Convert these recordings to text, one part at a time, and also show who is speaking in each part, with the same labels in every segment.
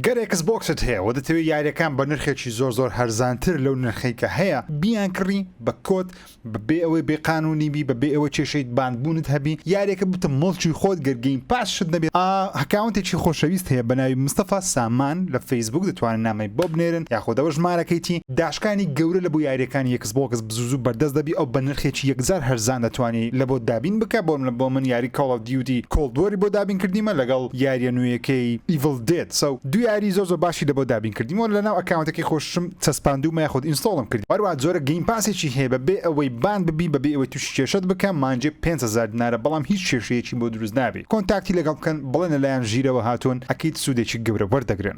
Speaker 1: گەر ئێکس بۆکست هەیە و دەتەوێ یاریەکان بە نرخێکی زۆر زۆر هەرزانتر لەو نرخەی کە هەیە بیانکڕی بە کۆد بە بێ ئەوەی بێ قانونی بی بە بێ ئەوە کێشەی باندبونت هەبی یاریەکە بتە موڵکی خۆت گەر گەیم پاس شت نەبێ ئا هەکاونتێکی خۆشەویست هەیە بە ناوی مستەفا سامان لە فەیسبوک دەتوانن نامەی بۆ بنێرن یاخۆدەوە ژمارەکەیتی داشکانی گەورە لە بۆ یاریەکانی زبۆکس بزوزو بەردەست دەبی ئەو بەنرخێکی یەکجار هەرزان دەتوانی لە بۆت دابین بکە بۆ نمونە بۆ من یاری کۆڵ ئۆف دیوتی کۆڵد وۆری بۆ دابین کردیمە لەگەڵ یاریە نوێیەکەی ئیڤڵ دێد سەو دوو یاری زۆر زۆر باشی لە بۆ دابین کردیمەوە لە ناو ئەکاونتەکەی خۆششم چەسپاندومە یاخود ئینستۆڵم کردی هەروەها جۆرە گەیم پاسێکی هەیە بە بێ ئەوەی باند ببی بە بێ ئەوەی توشی کێشەت بکە مانگێ پێنج هەزار دینارە بەڵام هیچ کێشەیەکی بۆ دروست نابی کۆنتاکتی لەگەڵ بکەن بڵێن لە لایان ژیرەوە هاتون ئەکید سودێکی گەورە وەردەگرن.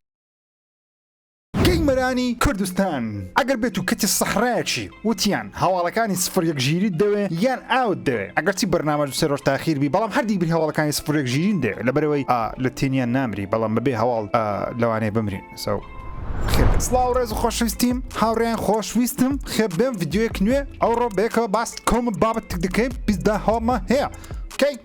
Speaker 1: گەیمەرانی کوردستان ئەگەر بێتو کەتی سەحرایەکی وتیان هەواڵەکانی سفر یەک ژیریت دەوێ یان ئاوت دەوێ ئەگەرچی بەرنامەش دوسێ رۆژ تاخیر بی بەڵام هەردی بری هەواڵەکانی سفر یەک ژیریم دەوێ لەبەرئەوەی لە تینیا نامری بەڵام بەبێ هەواڵ لەوانەیە بمرین سەو خێر بێ. سڵاو ڕێز و خۆشویستیم هاوڕێیان خۆش ویستم خێر بێم ڤیددیوەیەک نوێ ئەوڕۆ بەیەکەوە باس کۆمە بابەتێک دەکەین پیسدا هەواڵمان هەیە کەی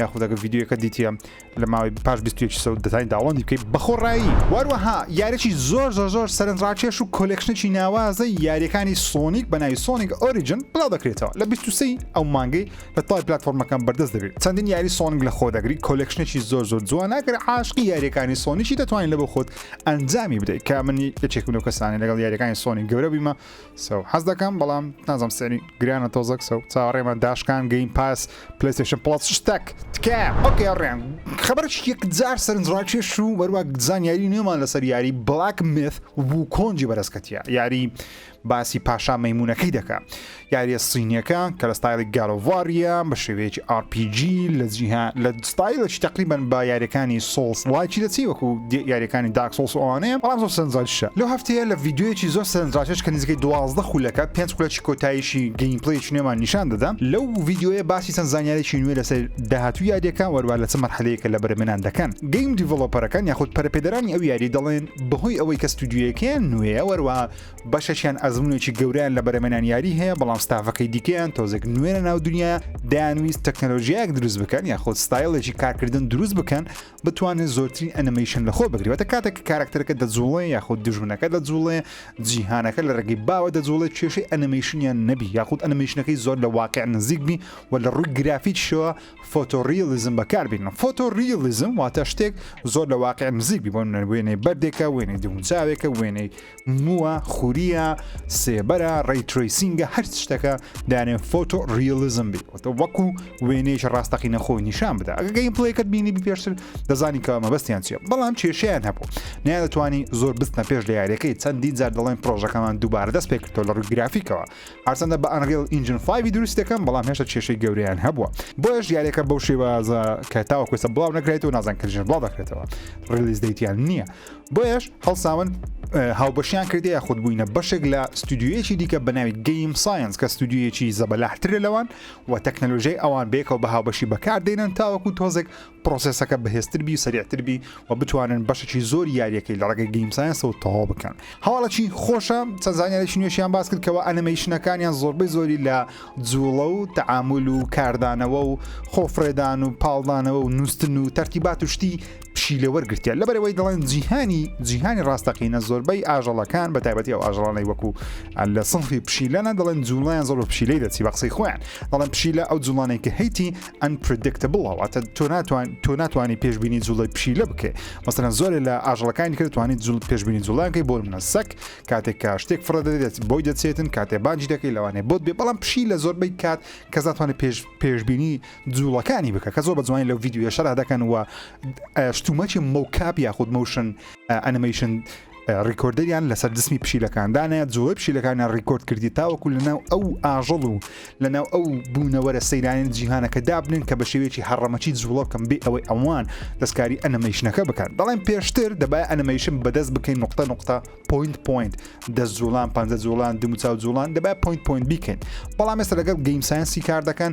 Speaker 1: یاخودەگە ڤیددیوەکە دیتە لە ماوەی پاش 21 سە دەتانی داوەندی بکەیت بەخۆڕایی واروەها یارێکی زۆر زۆر زۆر سەرنجڕاکێش و کۆلێکشنێکی ناوازە یاریەکانی سۆنیک بەناوی سۆنیک ئۆریجن بڵاو دەکرێتەوە لە 23 ئەو مانگەی لە تای پلتفۆرمەکان بەردەست دەبێت چەندین یاری سۆنگ لە خۆدەگری کۆلێکشنێکی زۆر زۆر جوان ناگەر عاشقی یاریەکانی سۆنیی دەتوانین لە بۆ خۆت ئەنجامی بدەیت کە منی یەکێکم لەو کەسانی لەگەڵ یاریەکانی سۆنی گەورە بیمە سو حەز دەکەم بەڵام نازم سعری گرانە تۆزەک سو چاوەڕێمە داشکان گەیم پاس پلەیستێشن پڵەس شتەک تکایە ئۆکێ ڕێن خبرش یەکجار سەرنجڕاکێش و وەروە زانیاری نوێمان لەسەر یاری بڵاک مێث بوو کۆنجی بەرزکەتیە یاری باسی پاشا مەمونونەکەی دەکە یاریە سینیەکە کە لە ستایلی گالۆڤاریە بە شێوەیەکی RPG لە جیها لە ستایلەکی تەقریبەن بە یاریەکانی سۆڵس ڵایکی دەچی وەکو یاریەکانی داک سۆڵس و ئەوانەیە بەڵام زۆر سەرنجڕاکیشە لەو هەفتەیە لە ڤیدیۆیەکی زۆر سەرنجڕاکێش کە نزیکەی دوازدە خولەکە پێنج خولەکی کۆتاییشی گەیم پلەیەکی نوێمان نیشان دەدا لەو ڤیدیۆیە باسی چەند زانیارێکی نوێ لەسەر داهاتوو یاریەکە وەروە لە چ مەرحەلەیەکە لە بەرهەمێنان دەکەن گەیم دیڤڵۆپەرەکان یاخود پەرەپێدەرانی ئەو یاریە دەڵێن بەهۆی ئەوەی کە ستودیۆیەکەیان نوێیە وەروەها بەشەکیان ئەزمونێکی گەورەیان لە بەرەمێنان یاری هەیە بەڵام ستافەکەی دیکەیان تۆزێک نوێنە ناو دنیا دایانویست تەکنەلۆژیایەک دروست بکەن یا خۆت ستایلێکی کارکردن دروست بکەن بتوانێت زۆرترین ئەنیمیشن لە خۆ بگرێتە کاتێک کارکتەرەکە دەجوڵێ یاخود دژمنەکە دەجوڵێ جیهانەکە لە ڕێگەی باوە دەجوڵێت کێشەی ئەنیمیشنیان نەبی یاخود ئەنیمیشنەکەی زۆر لە واقع نزیک بی و لە ڕووی گرافیکشەوە فۆتۆریالیزم بەکاربین فۆتۆریالیزم واتە شتێک زۆر لە واقع نزیک بی بۆ نەروێنەی بەردێکە وێنەی دونچاوێکە وێنەی مووە خوریە سێبەرە ڕیتریسینگە هەر شتەکە دانێن فۆتۆ ریالیزم بی وەتە وەکو وێنێش ڕاستەقینە خۆی نیشان بدا ئەگەگەی پڵێکت بینی پێشتر دەزانی کە مەبەستیان چیە بەڵام کێشیان هەبوو نیان دەتوانی زۆر بستنە پێش لە یاریەکەی چەندی جار دەڵێن پرۆژەکەمان دووبارە دەست پێکردەوە لە ڕووی گرافیکەوە هەرچەندە بە ئەنریل ئینجن فایوی دروست دەکەم بەڵام هێشتا کێشەی گەوریان هەبووە بۆیش یاریەکە بەو شێوازە کە تاوەکوێسە بڵاو نەکرێت و نازان کەژن بڵاو دەکرێتەوە ڕلیز دەیتیان نییە بۆیەش هەڵساون هاوبەشیان کردی یاخود بووینە بەشێک لە ستودیویەکی دیکە بە ناوی گەیم ساینس کە ستودیویەکی زەبەلاحترە لەوان و تەکنەلۆژیای ئەوان بێکەوە بە هاوبەشی بەکاردێنن تاوەکو تۆزێک پرۆسسەکە بەهێزتربی و سەریعتربی و بتوانن بەشێکی زۆر یاریەکەی لە ڕێگەی گەیم ساینسەوە تەواو بکەن هەواڵەکی خۆشە چەزانانێکی نوێشیان باس کرد کەەوە ئەنەمەیشنەکانیان زۆربەی زۆری لە جوڵە و تعامل و کاردانەوە و خۆفرێدان و پاڵدانەوە و نووسن و تەرتیبات و شتی پشیلە وەرگرتیە لەبەرەوەی دەڵێن جیهانی جیهانی ڕاستەقینە زۆربەی ئاژەڵەکان بە تایبەتی ئەو ئاژەڵانەی وەکو لە سنفی پشیلەنە دەڵێن جوڵیان زۆر بە پشیلەی دەچی بە قسەی خۆیان دەڵێن پشیلە ئەو جوڵانێک کە هەیتی ئەنپردکتبڵەوەتە تۆ ناتوان تۆ ناتوانانی پێشببینی جوڵی پشیلە بکەێ مەسەن زۆر لە ئاژەڵەکانی کردتوانانی جوڵ پێشببینی جوڵانکەی بۆ منە سەک کاتێک کا شتێک فڕە دەدێت بۆی دەچێتن کاتێ باجی دەکەی لەوانێ بۆت بێ بەڵام پشی لە زۆربەی کات کەزاتوانێت پێش پێشببینی جوڵەکانی بکە کە زۆر بە جوانی لەو یددیوە شەرا دەکەن و شتومەکی مەوکاپ یاخود مەوشن ئەنمەیشن ڕیکۆردەریان لەسەر دسمی پشیلەکاندانە جۆی پشیلەکانیان ڕیکۆرد کردی تاوەکو لەناو ئەو ئاژەڵ و لەناو ئەو بوونەوەرە سەیرانین جیهانەکە دابنن کە بە شێوەیەکی هەڕەمەکی جوڵەکەم بێ ئەوەی ئەوان دەستکاری ئەنەمەیشنەکە بکەن دەڵێن پێشتر دەبای ئەنەمەیشن بەدەست بکەین نقطە نقطە پوینت پوینت دەست جوڵان پ جوڵان دموچاو جوڵان دەبای پوینت پوینت بیکەین بەڵام ێستا لەگەڵ گەیم ساینسی کار دەکەن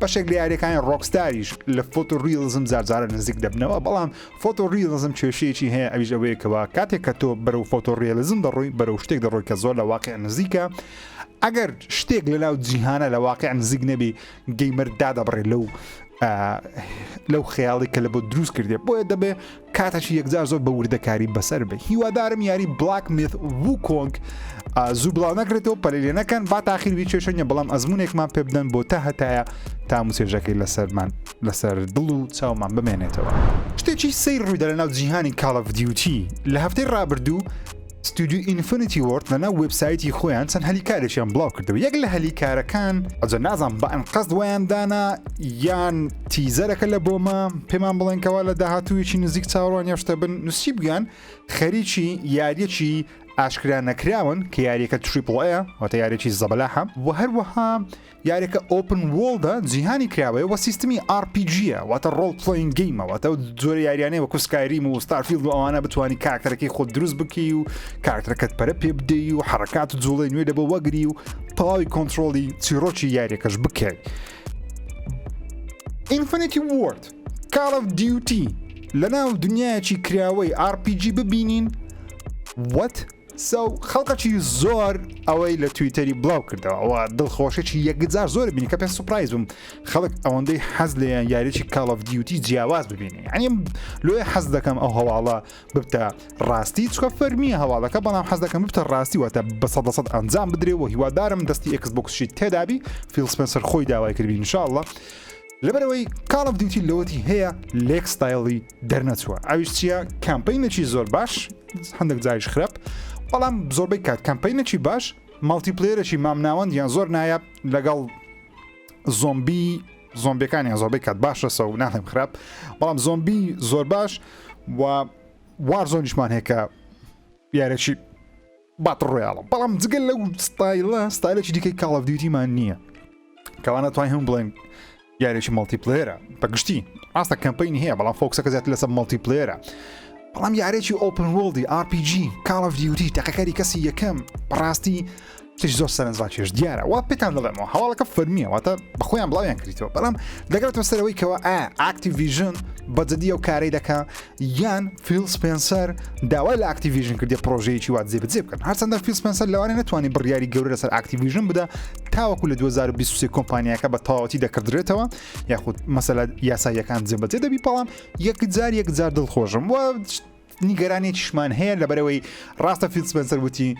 Speaker 1: بەشێک لە یاریەکانی ڕۆکستاریش لە فۆتۆ ریلزم زارجارە نزیک دەبنەوە بەڵام فۆتۆ ریلزم کێشەیەکی هەیە ئەویش ئەوەیەکەوە کاتێک کە تۆ بەرەو فۆتۆ ریلزم دەڕووی بەرەو شتێک دەڕۆی کە زۆر لە واقع نزیکە ئەگەر شتێک لە ناو جیهانە لە واقع نزیک نەبی گەیمەر دادەبڕێ لەو لەو خەیاڵی کە لە بۆ دروست کردێ بۆیە دەبێ کاتەکی یەکجار زۆر بە وردەکاری بەسەر بێ هیوادارم یاری بلاک میت وو کۆنگ زوو بڵاو نەکرێتەوە پەلی لێ نەکەن با تاخیر وی چێشەنە بەڵام ئەزمونێکمان پێ بدەن بۆ تا هەتایە تام و سێژەکەی لەسەرمان لەسەر دڵ و چاومان بمێنێتەوە شتێکی سەیر ڕوویدا لە ناو جیهانی کاڵە ڤدیوتی لە هەفتەی ڕابردوو ستودیو ئینفنتی وۆرد لە ناو وبسایتی خۆیان چەند هەلی کارێکیان بڵاو کردەوە یەک لە هەلی کارەکان ئەجە نازان بە ئەنقەست ویان دانا یان تیزەرەکە لە بۆمە پێمان بڵێنکەوە لە داهاتوویی نزیک چاوەڕوان یاشتە بن نووسی بگەن خەریکی یاریەکی ئاشکرا نەکراون کە یاریەکە تریپڵەیە واتە یارێکی زەبەلاحە و هەروەها یاریەکە ئۆپن وۆڵدە جیهانی کراوەیە وە سیستمی RPG-ە واتە ڕۆڵ پلین گەیمە واتە و جۆرە یاریانەی وەکو سکایریم و ستارفیلد و ئەوانە بتانی کاکتەرەکەی خۆ دروست بکەی و کاکتەکەت پەرە پێ بدەی و حرکات و جوڵی نوێ لە بۆ وەگری و تەواوی کۆنتترۆلی چیرۆکی یاریەکەش بکەیت ئینفەتی وورد کاڵ of دیوتی لە ناو دنیایەکی کراوەی RPG ببینین وەت سو خەڵکەکی زۆر ئەوەی لە تویتەری بڵاو کردەوە ئەوە دڵخۆشێکی یەکجار زۆر بینی کە پێ سوپایز بم خەڵک ئەوەندەی حەز لێیان یاریی کاڵف دیوتی جیاواز ببینی ئەنیم لۆێ حەز دەکەم ئەو هەواڵە ببتە ڕاستی چکە فەرمیە هەواڵەکە بەڵام حەز دەکەم ببتە ڕاستی واتە بە سەد سەد ئەنجام بدرێ و هیوادارم دەستی ئەکس بۆکسشی تێدابی فیلسپەنسەر خۆی داوای کردبی انشاءاللە لەبەرئەوەی کاڵ ئۆف دیوتی لۆتی هەیە لێک ستایڵی دەرنەچووە ئەویش چییە کامپینەکی زۆر باش هەندێک جاریش خراپ بەڵام زۆربەی کات کامپینەکی باش ماڵتی پلێرەکی مامناوەند یان زۆر نایاب لەگەڵ زۆمبی زۆمبیەکانیان زۆربەی کات باشە سە و ناڵێم خراپ بەڵام زۆمبی زۆر باش و وار زۆنیشمان هەیە کە یارەکی باتڵ ڕۆیاڵە بەڵام جگە لەو ستایلە ستایلێکی دیکەی کاڵ ئەف دیوتیمان نییە کەوا ناتوانین هەم بڵێن یاریێکی مەڵتیپلێرە بەگشتی ئاستە کەمپین هەیە بەڵام فۆکسەکە زیات لەسەر مەڵتیپلێرە بەڵام یارێکی ئۆپن وڵدی RPG کاڵ ئەف دیوتی تەقەکاری کەسی یەکەم بەڕاستی تش زۆر سەرنجڕاکێش دیارە وا پێتان دەڵێمەوە هەواڵەکە فەرمیە واتە بەخۆیان بڵاویان کردیتەوە بەڵام دەگرێتەوە سەرەوەی کەەوە ئا ئاکتیڤژن بەجددی و کارەی دەکە یان فیل سپێنسەر داوای لە ئاکتیڤژن کردی پرۆژەیەکی وا جێبجێ بکەن هەرچەندە فیل سپێنسەر لەوانێ نتوانانی بڕیاری گەورە لەسەر ئاکتیڤژن بدا تاوەکو لە 2023 کۆمپانیاکە بە تەواوەتی دەکردرێتەوە یاخود مەسەلا یاساییەکان جێبەجێ دەبی بەڵام یەک جار یەک جار دڵخۆشم و نیگەرانێکیشمان هەیە لە بەرەوەی ڕاستە فیل سپێنسەر وتی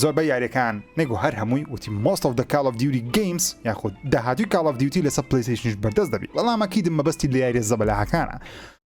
Speaker 1: زۆربە یاریەکان نەگو هەر هەمووی وتی مۆست of the Call of Duty Games یاخود داهاتوی کاڵ of Duty لەسەر پلیسیشنش بەردەست دەبی بەڵامەکیدم مەبەستی لە یاریە زەبەلاهەکانە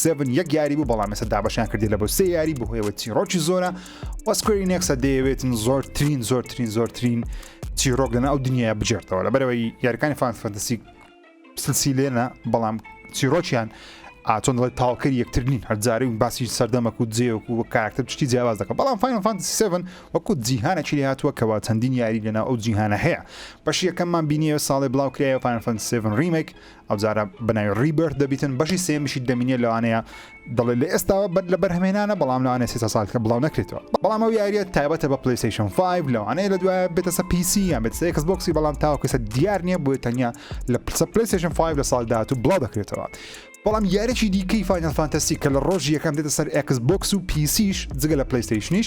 Speaker 1: سێڤن یەک یاری بوو بەڵام ێستا دابەشیان کردی لە بۆ سێ یاری بهۆیەوە چیڕۆکی زۆرە وەسکوێری نێکسە دەیەوێتن زۆرترین زۆرترین زۆرترین چیرۆک لەنا ئەو دنیاە بجێرتەوە لە بەرەوەی یارەکانی فان فەنتەسی سلسیلێنە بەڵام چیرۆکیان ئاچۆن دەڵێت تاوکەری یەکتر نین هەرجاری و باسی سەردەمەک و جێوەک و کاراکتە پشتی جیاواز دەکە بەڵام فاین فانسیسەن وەکو جیهانە چی هاتووە کەوا چەندین یاری لەناو ئەو جیهانە هەیە بەش یەکەممان بینیە ساڵی بڵاوکرایە فانفەنسێن ریمێک ئەوجارە بەناوی ڕیبرت دەبیتن بەشی سێمیشی دەمینێ لەوانەیە دەڵێ لە ئێستاوە بەر لە بەرهەمێنانە بەڵام لەوانێ سێ ساڵکە بڵاو نەکرێتەوە بەڵام ئەو یاریە تایبەتە بە پلیسیشن 5 لەوانەیە لە دوایە بێتەسە پیسی یان بێت سێکس بۆکسی بەڵام تاوکەسە دیار نییە بۆی تەنیا لە پرسە پلیسیشن 5 لە ساڵ داات و بڵاو دەکرێتەوە بەڵام یارێکی دیکەی فانل فانتەسی کە لە ڕۆژی یەکەم دێتە سەر ئەکس بۆکس و پیسیش جگە لە پلیستیشنیش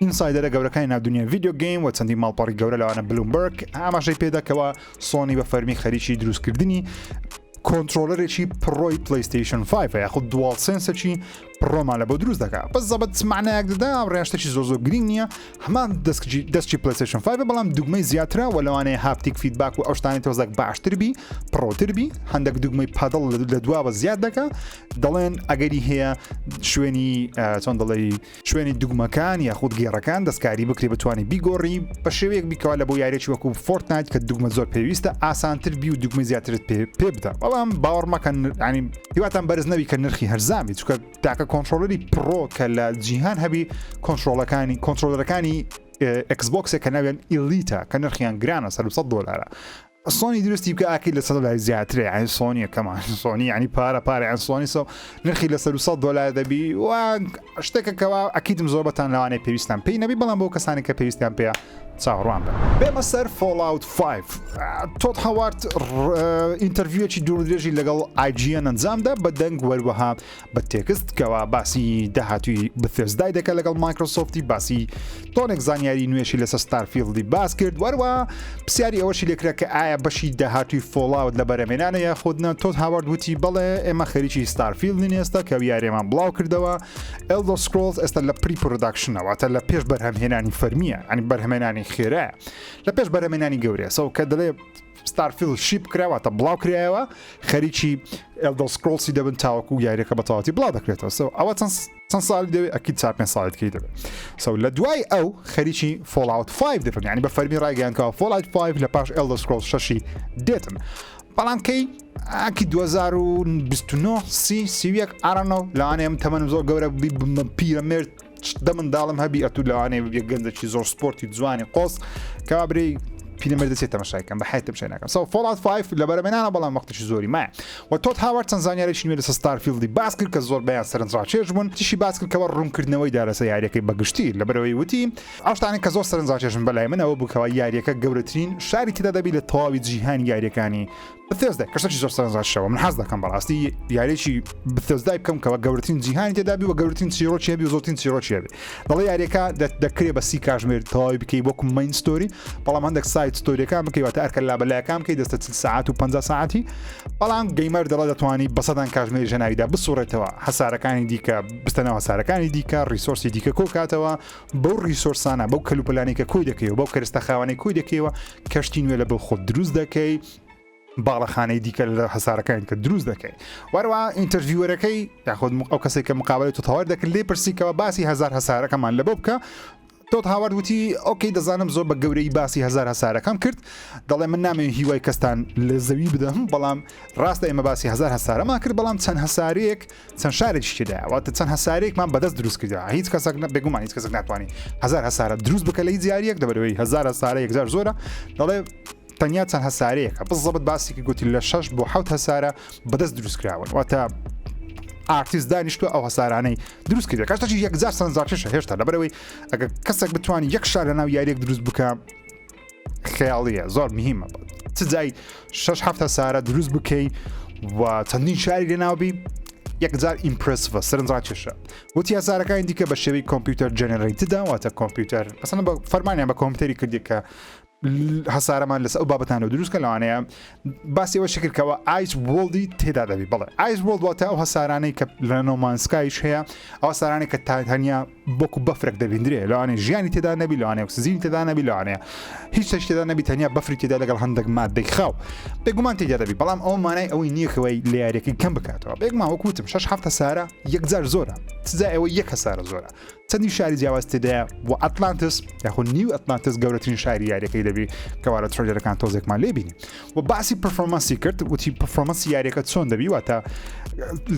Speaker 1: ئینسایدەرە گەورەکانی ناو دنیای ڤیدیۆ گەیم و چەندی ماڵپەڕی گەورە لەوانە بلومبەرگ ئاماژەی پێدا کەوا سۆنی بە فەرمی خەریکی دروستکردنی کۆنتترۆلەرێکی پڕۆی پلیستیشن 5 یاخود دوواڵ سنسەکی پڕۆمان لە بۆ دروست دەکات بە زەبەت معنایەک دەدا ڕێشتێکی زۆ زۆ گرنگ نییە هەمان دەستکی دەستکی پلیستیشن 5 بەڵام دوگمەی زیاترە و لەوانەیە هاپتیک فیدباک و ئەوشتانی تۆزەک باشتربی پڕۆتربی هەندێک دوگمەی پادڵ لە دواوە زیاد دەکە دەڵێن ئەگەری هەیە شوێنی چۆن دەڵێ شوێنی دوگمەکان یاخود گێڕەکان دەستکاری بکرێ بتوانانی بیگۆڕی بە شێوەیەک بیکەوە لە بۆ یاریێکی وەکو فۆرت نایت کە دوگمە زۆر پێویستە ئاسانتر بی و دوگمە زیاترت پێ پێ بدە بەڵام باوەڕمەکەن ینی هیواتان بەرز نەوی کە نرخی هەرزانبی چکە تاکە کۆنتترۆلەری پڕۆ کە لە جیهان هەبی کۆنتترۆلەکانی کۆنتترۆلەکانی ئەکسبکسێک کە ناوێن ئیلیتا کە نرخیان گرانە سەر 100 دلارە سۆنی دروستی بکە ئاکەی لە سەد لای زیاترە یعنی سۆنیە کەمان سۆنی ینی پارە پارەیان سۆنی سە نرخی لە سەر سە دلار دەبی و شتێکە کەوا ئەکیتم زۆر بەتان لەوانێ پێویستان پێی نەبی بەڵام بۆ کەسانی کە پێویستیان پێ چاوەڕوان بن بێمە سەر فۆلاوت 5 تۆت هاوارد ئینتەرڤویەکی دوور درێژی لەگەڵ ئایجیە ئەنجامدا بە دەنگ وەروەها بە تێکست کەوا باسی داهاتوی بثێزدای دەکە لەگەڵ مایکرۆسۆفتی باسی تۆنێک زانیاری نوێشی لەسەر ستارفیلدی باس کرد وەروە پرسیاری ئەوەشی لێکرا کە ئایا بەشی داهاتوی فۆڵاوت لە بەرەمێنانە یا خودنا تۆز هاوارد وتی بەڵێ ئێمە خەریکی ستارفیل نێستا کە یارێمان بڵاو کردەوە ئەلدۆ سکرۆلز ئێستا لە پری پرۆداکشنەوەتە لە پێش بەرهەمهێنانی فەرمیە ئەنی بەرهەمێنانی خێرە لە پێش بەرەمێنانی گەورەسەو کە دەڵێ ستارفیڵد شیپ کرا واتە بڵاو کرایەوە خەریکی ئەلدڵ سکرۆڵسی دەبن تاوەکو یاریەکە بە تەواتی بڵاو دەکرێتەوە سەو ئەوە چەند چەند ساڵی دەوێت ئەکی چا پێ ساڵی دکەی دەبێت سەو لە دوای ئەو خەریکی فۆڵاوت 5 دەبن ینی بە فەرمی ڕایگەیانکەەوە فۆڵایت 5 لە پاش ئەلدڵ سکرۆڵ شەشی دێتن بەڵام کەی ئاکی 2029 سی سیویەک ئارانەوە لەوانەیە من تەمەنم زۆر گەورە پیرە مرد دە منداڵم هەبی ئەتو لەوانەیە ببێ گەندەکی زۆر سپۆرتی جوانی قۆز کابری پیرمە دەچێت تەمەشایکەم بە حیتم شەناکەم سەو فڵات فایف لە بەرەمێنانە بەڵام وەختیشی زۆری مایە و تۆت هاوار چەند زانیارێکی نوێ لەسە ستارفیلدی باس کرد کە زۆر بیان سەرنجڕاکێش بوون تیشی باس کرد کەەوە ڕوونکردنەوەی دا لەسە یاریەکەی بەگشتی لە بەرەوەی وتی ئەوشتانە کە زۆر سەرنجڕاکێشن بەلای منەوە بکەوە یاریەکە گەورەترین شاری تێدا دەبی لە تەواوی جیهانی یاریەکانی بثێزدای کەسەکی زۆر سەرنجڕاکی شەوە من حەز دەکەم بەڕاستی یاریی بثێزدای بکەم کەەوە گەورترین جیهانی تێدابی و گەورترین چیرۆکیێبی و زۆتین چیرۆکیێبی دەڵی یاریەکە دەکرێ بە سی کاژمێر تەواوی بکەی وەکو مین ستۆری بەڵام هەندێک سایت ستۆریەکان بکەیوەتە ئەرکە لا بەلایەکان بکەی دەستە چل ساعت و 50 ساعتی بەڵام گەیمەر دەڵە دەتوانانی بەسەدان کاژمێری ژەناویدا بسوڕێتەوە هەسارەکانی دیکە بستەنەوە هەسارەکانی دیکە ریسۆرسی دیکە کۆکاتەوە بەو ریسۆرسانە بەو کەلوپەلانی کە کۆی دەکەی و بەو کەرستە خاوانەی کۆی دەکەیەوە کەشتی نوێ لە بۆ خۆ دروست دەکەی باڵەخانەی دیکە لە هەسارەکان کە دروست دەکەین وەروە ئینتەرڤیوەرەکەی یاخود ئەو کەسێک کە مقابلی تو تەوار دەکرد لێ پرسیکەوە باسی هزار هەسارەکەمان لە بۆ بکە تۆت هاوارد وتی ئۆکەی دەزانم زۆر بە گەورەی باسی هزار هەسارەکەم کرد دەڵێ من نامێ هیوای کەستان لە زەوی بدەم بەڵام ڕاستە ئێمە باسی هزار هەسارەما کرد بەڵام چەند هەسارێک چەند شارێکشتداواتە چەند هەسارێکمان بەدەست دروست کردا هیچ کەسەک بێگومان هیچ کەسەک ناتوانانی هزار هەسارە دروست بکە لە هیچ یاریەک دەبەرەوەی هزار هەسارە یەکجار زۆرە دەڵێ تەنیا چەند هەسارەیەکە بس زەبت باسی کە گوتی لە شەش بۆ حوت هەسارە بەدەست دروست کراون واتە ئارتیست دانیشتو ئەو هەسارانەی دروست کرد کەشتەی یەکجار سەنجاکێشە هێشتا لەبەرەوەی ئەگە کەسێک بتوانانی یەک شار لە ناو یاریێک دروست بکە خیاڵیە زۆر مهمە چ جای شش هەفتە سارە دروست بکەی و چەندین شاری لە ناوبی یەکجار ئیمپرسڤە سەرنجڕا کێشە وتی هەزارەکانی دیکە بە شێوی کۆمپیوتەر جەنەرەیتدا واتە کۆمپیوتەر ئەسن بە فەرمانیان بە کۆمپیوتەری کردی کە هەسارەمان لەس ئەو بابەتانەوە دروستکە لەوانەیە باسی ئەوە شکرد کەەوە ئایس وڵدی تێدا دەبی بڵێ ئایس وڵ واتە ئەو هەسارانەی کە لە نۆمانسکایش هەیە ئەو سارانێک کە تا هەنیا بۆکو بەفرێک دەبیندرێ لەوانێ ژیانی تێدا نەبی لەوانێ سزیین تێدا نەبی لەوانەیە هیچ شتێک تێدا نەبی تەنیا بەفری تێدا لەگەڵ هەندێک مادەی خاو بێگومان تێدا دەبی بەڵام ئەو مانای ئەوەی نییەکەوەی لە یاریەکەی کەم بکاتەوە بێگمان وەکوتم شش هەفتە سارە یەکجار زۆرە سزا ئەوە یەک هەسارە زۆرە چەندین شاری جیاواز تێدایە و ئەتلانتس یاخود نیو ئەتلانتس گەورەترین شاری یاریەکەی دەبی کەوارە ترۆیدەرەکان تۆزێکمان لێبینی و باسی پرفۆمەسی کرد وتی پرفۆمەسی یاریەکە چۆن دەبی واتە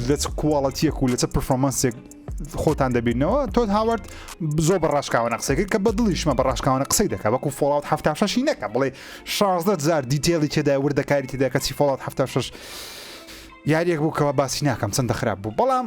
Speaker 1: لە چ کوواڵەتیەک و لەچە پرفۆمەنسێک خۆتان دەبینەوە تۆت هاوارد زۆر بە ڕاشکاوانە قسەکە کە بە دڵیشمە بە ڕاشکاوانە قسەی دەکە وەکو فۆڵات هەفتا شەشی نەکە بڵێ شازدە زار دیتێڵی تێدا وردەکاری تێدا کەچی فۆڵات هەفتا شش یاریەک بوو کەەوە باسی ناکەم چەندە خراپ بوو بەڵام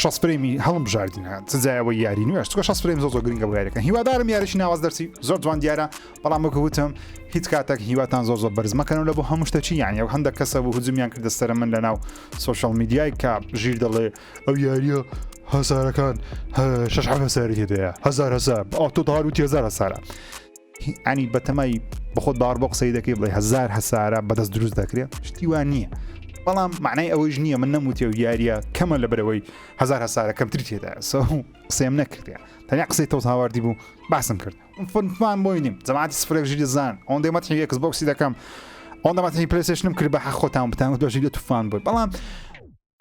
Speaker 1: شەست فرەیمی هەڵمبژاردینە چ جایە بۆ یاری نوێش چکە شەست فرەیم زۆر زۆر گرنگە بۆ یاریەکە هیوادارم یاریشی ناواز دەرسی زۆر جوان دیارە بەڵام وەکە وتم هیچ کاتێک هیواتان زۆر زۆر بەرزمەکەنەوە لە بۆ هەموو شتەچی یان یو هەندێک کەسە بۆ هجومیان کردە سەر من لەناو سوۆشال میدیای کە ژیر دەڵێ ئەو یاریە هەسارەکان شش هەساری هەیە هزار هزار ئۆتۆدار و تێزار هەسارە ینی بەتەمای بەخۆت باڕ بۆ قسەی دەکەی بڵێ هزار هەسارە بەدەست دروست دەکرێت شتیوان نییە بەڵام معنای ئەوەیش نییە من نەموتێ و یاریە کەمە لە برەوەی هزار هەسارە کەمتری تێدا سە قسەم نەکردێ تەنیا قسەی تەوت هاواردی بوو باسم کرد فنمان بۆی نیم زمانی سفرێک ژیری زان ئەوەن دەمە یەکس بۆکسی دەکەم ئەوەن دەمەتنی پرسێشنم کرد بە حەخۆتان بتان دۆژی لە توفان بوو بەڵام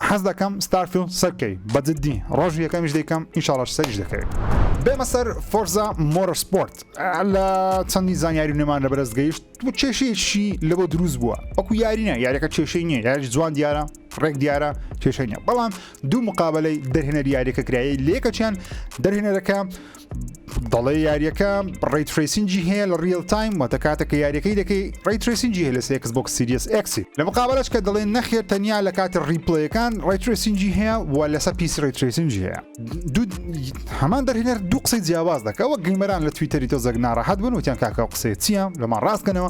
Speaker 1: حەز دەکەم ستارفیڵد سەر بکەی بە جدی ڕۆژی یەکەمیش دەیکەم ئینشاڵاش سەریش دەکەوێ. بێمە سەر فۆرزا مۆرە سپۆرت لە چەندی زانیاری نێمان لە بەرز گەیشت و کێشەیەکی لەوە دروست بووە ئەکو یارینە یاریەکە کێشەی نییە یاری جوان دیارە ڕێک دیارە کێشەی نیە بەڵام دوو مقابلەی دەرهێنەر یاریەکە کرایە لەکەچیان دەرهێنەرەکە دەڵێ یاریەکە ڕی ترسینجی هەیە لە ریل تایم واتە کاتە کە یاریەکەی دەکەی ڕی ترسینجی هەیە لە سێکس بۆکس سیریس ئەکسی لە مقابلش کە دەڵێن نەخێر تەنیا لە کاتی ڕیپلەکان ڕی ترسینجی هەیە و لەسە پیس ڕی ترسینجی هەیە دوو هەمان دەرهێنەر دوو قسەی جیاواز دەکەەوە گەیمەران لە تویتەری تۆزەک ناڕەحەت بن وتیان کاکە قسەی چییە لەمان ڕاستکەنەوە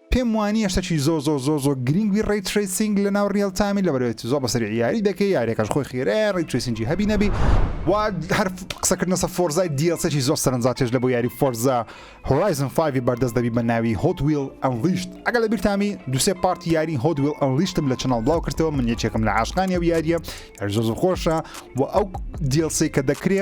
Speaker 1: پێم وانیە شتەکی زۆر زۆر زۆر زۆر گرینگ بی ڕەی ترەیسینگ لە ناو ڕیەڵ تامی لەبەرەێت زۆر بەسەری یاری دەکەی یاریەکەش خۆی خێرەیە ڕەی ترەیسینگی هەبی نەبی و هەر قسەکردنەسە فۆرزای دیڵسێکی زۆر سەرنجاتێش لە بۆ یاری فۆرزا هۆرایزن فایڤی بەردەست دەبی بە ناوی هۆت ویڵ ئەنڵیشت ئەگەر لە بیرتامی دوسێ پارتی یاری هۆت ویڵ ئەنڵیشتم لە چناڵ بڵاو کردەوە من یەکێکم لە عاشقانی ئەو یاریە یاری زۆر زۆر خۆشە و ئەو دیڵسێ کە دەکرێ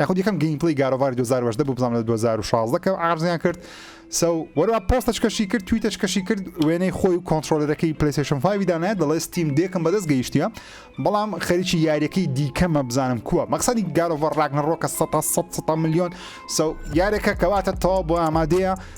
Speaker 1: یاخود یەکەم گەیمپلەی گاد ئۆف واری دوو هەزار و هەژدە بوو بزانم لە دوو هەزار و شازدە کە عەرزیان کرد سو وەروا پۆستەش کەشی کرد تویتەش کەشی کرد وێنەی خۆی و کۆنتترۆلەرەکەی پلیسشن فاوی دانایە دەڵێ ستیم دێکم بەدەست گەیشتە بەڵام خەریکی یاریەکەی دیکەمە بزانم کووە مەقصدی گارۆڤەر ڕاگنەڕۆکە 100 100 میلیۆن سو یارێکە کەواتە تەوا بۆ ئامادەیە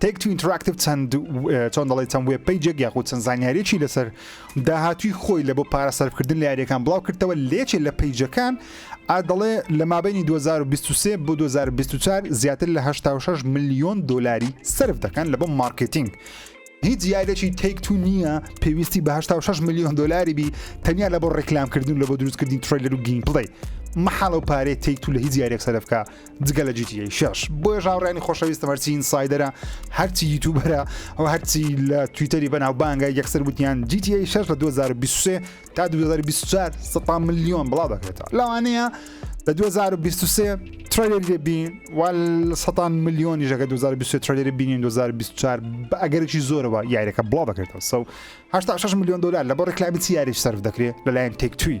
Speaker 1: تەیک تو ئینتراکتیڤ چەند چۆن دەڵێت چەند وێب پەیجێک یاخود چەند زانیاریەکی لەسەر داهاتوی خۆی لە بۆ پارە سەرفکردن لە یاریەکان بڵاو کردەوە لێچێ لە پەیجەکان ئا دەڵێ لە مابینی 2023 بۆ 2024 زیاتر لە 86 میلیۆن دلاری سرف دەکەن لە بۆ مارکتینگ هیچ یادێکی تێک تو نییە پێویستی بە 6 میلیۆن دلاری بی تەنیا لە بۆ ڕێکلامکردن لە بۆ دروستکردنی تریلەر و گیم پڵی مححاڵ و پارێ تێک تو لە هیچ یارێک سەرفکە جگە لە جی تی ئەی شەش بۆیەش هاوڕێنی خۆشەویستم هەرچی ئینسایدەرە هەرچی یوتوبەرە ئەو هەرچی لە تویتەری بەناو بانگە یەکسەر وتیان جی تی ئەی شەش لە 2023 تا 2024 سەتا ملیۆن بڵاو دەکرێتەوە لەوانەیە لە 2023 ترێلێری لێ بین وال سەتان ملیۆنی ژەکە 2023 ترێلێری بینین 2024 بە ئەگەرێکی زۆرەوە یاریەکە بڵاو دەکرێتەوە سەو 86 ملیۆن دلار لە بۆ ڕێکلامی چی یاریش سەرف دەکرێت لەلایەن تێکتوی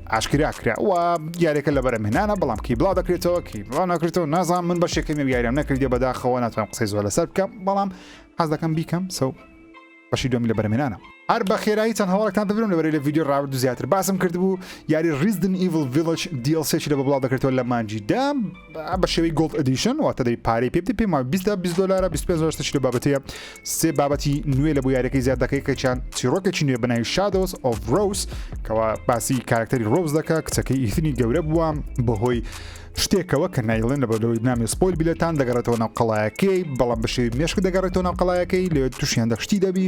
Speaker 1: ئاشکرا کرا و یاریەکە لە بەرەم هێنانە بەڵام کی بڵاو دەکرێتەوە کی بڵاو ناکرێتەوە نازان من بەشێکەکەمی و یاریان نەکردی بەداخەوە ناتوانم قسەی زۆر لەسەر بکەم بەڵام حەز دەکەم بیکەم سەو بەشی دومی لە بەرمێنانە هەر بە خێرایی چەند هەواڵێکتان دەبرم لەبەرەی لە ویددیو ڕاورد و زیاتر باسم کردبوو یاری ریزدن ئیڤل ڤیلج دیڵ سێکی لە بە بڵاو دەکرێتەوە لە مانجی دام بە شێوەی گۆڵد ئەدیشن واتە دەی پارەی پێ بدەی پێما 20 تا 20 دلار 25 دلار شتێکی لە بابەتەیە سێ بابەتی نوێ لە بۆ یاریەکەی زیاد دەکەی کەچیان چیرۆکێکی نوێ بەناوی شادۆس ئۆف ڕۆس کەوا باسی کارکتەری ڕۆز دەکە کچەکەی ئیثنی گەورە بووە بەهۆی شتێکەوە کە نایڵێن لە بەرەوەی نامی سپۆل بیلەتان دەگەڕێتەوە ناو قەڵایەکەی بەڵام بەشێوی مێشک دەگەڕێتەوە ناو قەڵایەکەی لێ تووشیان دەخشتی دەبی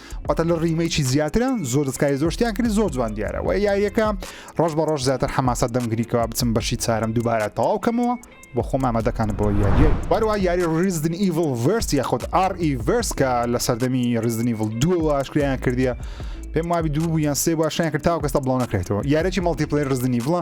Speaker 1: واتە لە ڕیمەیکی زیاترە زۆر دەستکاری زۆر شتیان کردی زۆر جوان دیارە وە یاریەکە ڕۆژ بە ڕۆژ زیاتر حەماسە دەمگریکەوە بچم بەشی چارم دووبارە تەواو کەمەوە بۆ خۆم ئامادەکان بۆ یاریە واروا یاری ڕیزدن ئیڤل ڤرس یاخود ئار ئی ڤرس کە لە سەردەمی ڕیزدنی ڤڵ دووەوە ئاشکریان کردیە پێم وابی دوو بوو یان سێ باشیان کرد تاو کەستا بڵاو نەکرێتەوە یارێکی مەڵتیپلەی ڕزدنی بڵە